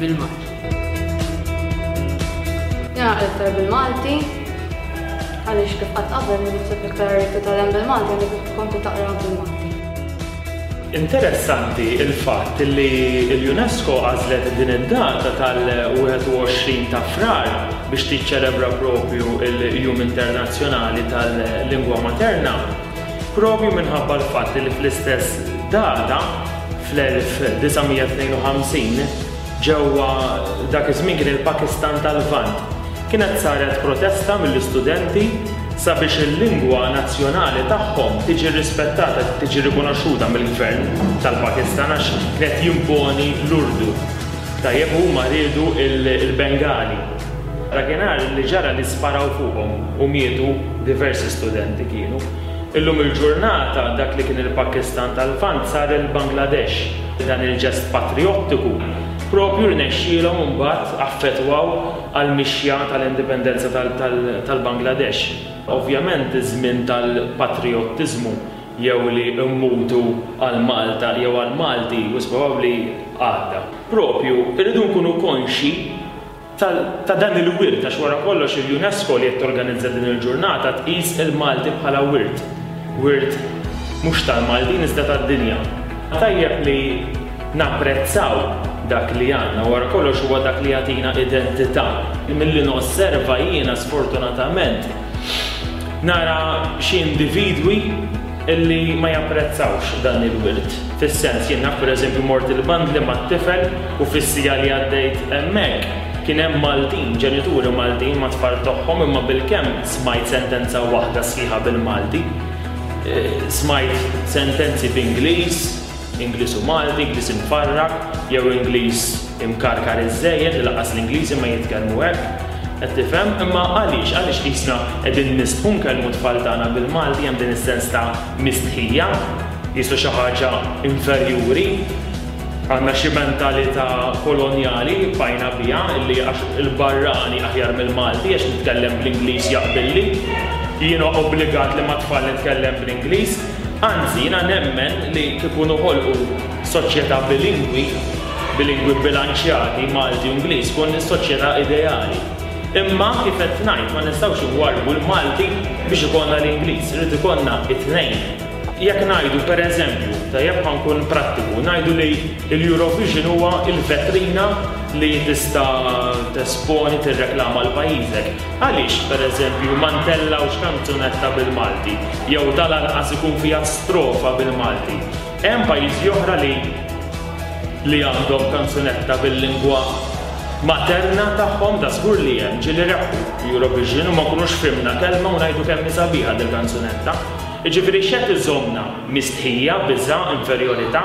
bil-Malti. Jena qed iktar bil-Malti, għaliex kif qatt qabel li nikseb iktar titgħallem bil-Malti għandek tkompli taqra bil-Malti. Interessanti il-fatt li l-UNESCO għażlet din id-data tal-21 ta' Frar biex tiċċelebra propju l-Jum Internazzjonali tal-Lingwa Materna. Propju minħabba l-fatt li fl-istess data, fl-1952, ġewwa dak iż-żmien kien il-Pakistan tal-Lvant, kienet saret protesta mill-istudenti sabiex il-lingwa nazzjonali tagħhom tiġi rispettata, tiġi rikonoxxuta mill-Gvern tal-Pakistan għax kien qed jimponi l-Urdu. Tajjeb, huma riedu l-Bengali. Dakinhar li ġara li sparaw fuqhom u mietu diversi studenti kienu. Illum il-ġurnata dak li kien il-Pakistan tal-Lvant sar il-Bangladesh. Dan il-ġest patrijottiku proprju rnexxielhom imbagħad affettwaw għall-mixja tal-indipendenza tal-Bangladesh. Ovvjament iż-żmien tal-patrijottiżmu jew li mmutu għal Malta jew għall-Malti wisq probabbli għadda. Proprju rridu nkunu konxji ta' dan il-wirt għax wara kollox il-UNESCO li qed torganizza din il-ġurnata tqis il-Malti bħala wirt, wirt mhux tal-Maltin iżda tad-dinja. Tajjeb li napprezzaw dak li għandna, wara kollox huwa dak li jagħtina identità. Milli nosserva jiena sfortunatament, Nara xi individwi illi ma japprezzawx dan il-wirt. Fis-sens, jien naf pereżempju mort il-bandli mat-tifel u fis-siegħa li għaddejt hemmhekk kien hemm Maltin, ġenituri Maltin ma' tfal togħhom imma bilkemm smajt sentenza waħda sħiħa bil-Malti. Smajt sentenzi b'Ingliż. Ingliż u Malti, Ingliż imfarrak jew Ingliż imkarkar iż-żejjed li lanqas l-Ingliżi ma jitkellmu hekk. Qed tifhem? Imma għaliex? Għaliex qisna qegħdin nistħu nkellmu t-tfal tagħna bil-Malti hemm din is-sens ta' mistħija? Qisu xi ħaġa inferjuri? Għandna xi mentalità kolonjali li bqajna biha illi għax il-barrani aħjar mill-Malti għax nitkellem bl-Ingliż jaqbilli, jiena obbligat li mat-tfal nitkellem bl-Ingliż? Anzi, jiena nemmen li kieku noħolqu soċjetà bilingwi, bilingwi bbilanċjati, Malti u Ingliż, tkun is-soċjetà ideali. Imma, kif qed ngħid, ma nistgħux inwarrbu l-Malti biex ikollna l-Ingliż, irid ikollna t-tnejn. Jekk ngħidu, per eżempju, tajjeb ħa nkun prattiku, ngħidu li l-Eurovision huwa l-vetrina li tista' tesponi, tirreklama lil pajjiżek. Għaliex, pereżempju, ma ntellgħux kanzunetta bil-Malti jew tal-anqas ikun fiha strofa bil-Malti? Hemm pajjiżi oħra li li għandhom kanzunetta bil-lingwa materna tagħhom? Dażgur li hemm, ġieli rebħu l-Eurovision u ma nkunux fhimna kelma u ngħidu kemm hi sabiħa dil-kanzunetta. Jiġifieri x'qed iżommna? Mistħija, biża', inferjorità?